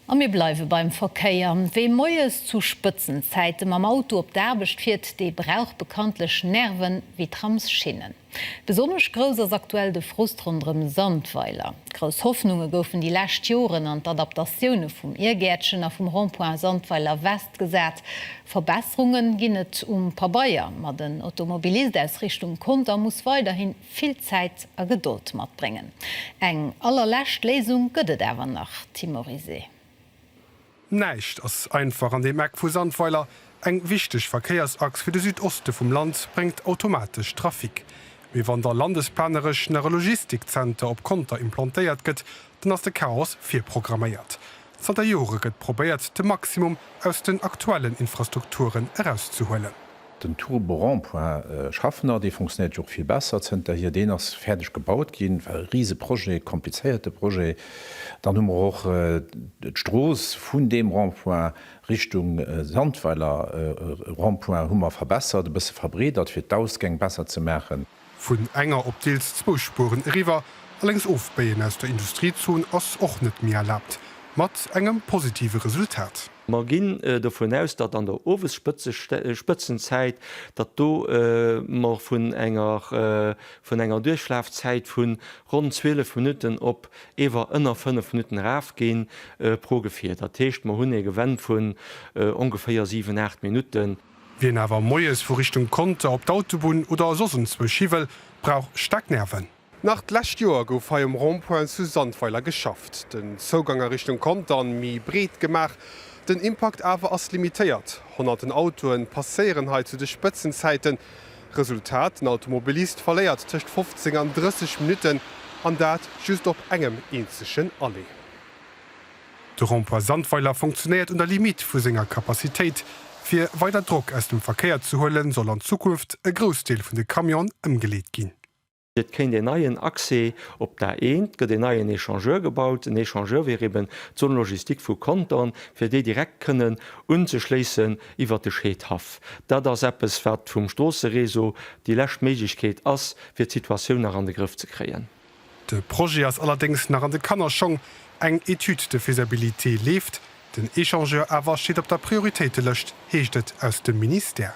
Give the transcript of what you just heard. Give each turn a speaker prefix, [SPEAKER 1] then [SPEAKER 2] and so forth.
[SPEAKER 1] A mir bleiwe beim Verkéier. Wee moies zu Spëtzenzäite mam Auto op d'Aarbecht fiert, dee brauch bekanntlech Nerven wéi Tramsschinnen. Besonnesch grouss ass aktuell de Frust ronderëm Sandweiler. Grouss Hoffnunge goufen déi lescht Joren an d'Adaptatioune vum Iergäertchen a vum Rond-point Sandweiler West gesat. Verbesserunge ginn et um Pabeier, ma den Automobilist aus Richtung Conter muss weiderhin vill Zäit a Gedold matbréngen. Eng allerlescht Léisung gëtt et awer nach, Timorisé.
[SPEAKER 2] Näischt ass einfach an deem Eck vu Sandweiler. Eng wichteg Verkéiersachs fir de Südoste vum Land bréngt automatesch Trafic. Mee wann da landesplaneresch nach e Logistikzenter op Conter implantéiert gëtt, dann ass de Chaos virprogramméiert. Zanter Jore gëtt probéiert, de Maximum aus den aktuellen Infrastrukturen erauszehuelen. Den Turbo
[SPEAKER 3] Rond-Point Schaffner, dee funktionéiert jo och vill besser zënterhier, deen ass fäerdeg gebaut ginn, war e rise Projet, komplizéierte Projet. Dann hu mer och d'Strooss vun deem Rond-Point Richtung Sandweiler Rond-Point hu mer verbessert, e bësse verbreedert, fir d'Ausgäng besser ze maachen. Vun enger op
[SPEAKER 2] deels zwou Spueren eriwwer, alleng's ofbéien aus der Industriezon ass och net méi erlaabt, mat engem positive Resultat. Mer ginn
[SPEAKER 4] dovun aus, datt an der Owesspëtzenzäit, datt do mer vun enger vun enger Duerchlafzäit vun ronn 12 Minutten op ewer ënner 5 Minutten erafginn pro Gefier. Datt heescht, mer hunn ee Gewenn vun ongeféier 7, 8 Minutten. Wien awer moies
[SPEAKER 2] vu Richtung Conter op d'Autobunn oder soss enzwousch hi wëll, brauch staark Nerven. Nach d'lescht Joer gouf hei um Rond-point zu Sandweiler geschafft, den Zougang a Richtung Conter méi breet gemaach. Den Impakt awer ass limitéiert, honnerten Autoe passéieren hei zu de Spëtzenzäiten. Resultat, den Automobilist verléiert tëscht 15 an 30 Minutten, an dat just op engem eenzegen Aller. De Rond-point Sandweiler fonctionnéiert un der Limite vu senger Capacitéit. Fir weider Drock aus dem Verkéier ze huelen, soll an Zukunft e Groussdeel vun de Camionen ëmgeleet ginn. Et kéint een
[SPEAKER 4] neien Accès op d'A1, et gëtt een neien Echangeur gebaut. En Echangeur wier eben d'Zone logistique vu Contern, fir déi direkt kënnen unzeschléissen iwwert de Scheedhaff. Dat ass eppes, wat vum Stroossereseau déi lescht Méiglechkeet ass, fir d'Situatioun nach an de Grëff ze kréien. De Projet
[SPEAKER 2] ass allerdéngs nach an de Kannerschong, eng Étude de faisabilité leeft, den Échangeur awer steet op der Prioritéitelëscht, heescht et aus dem Ministère.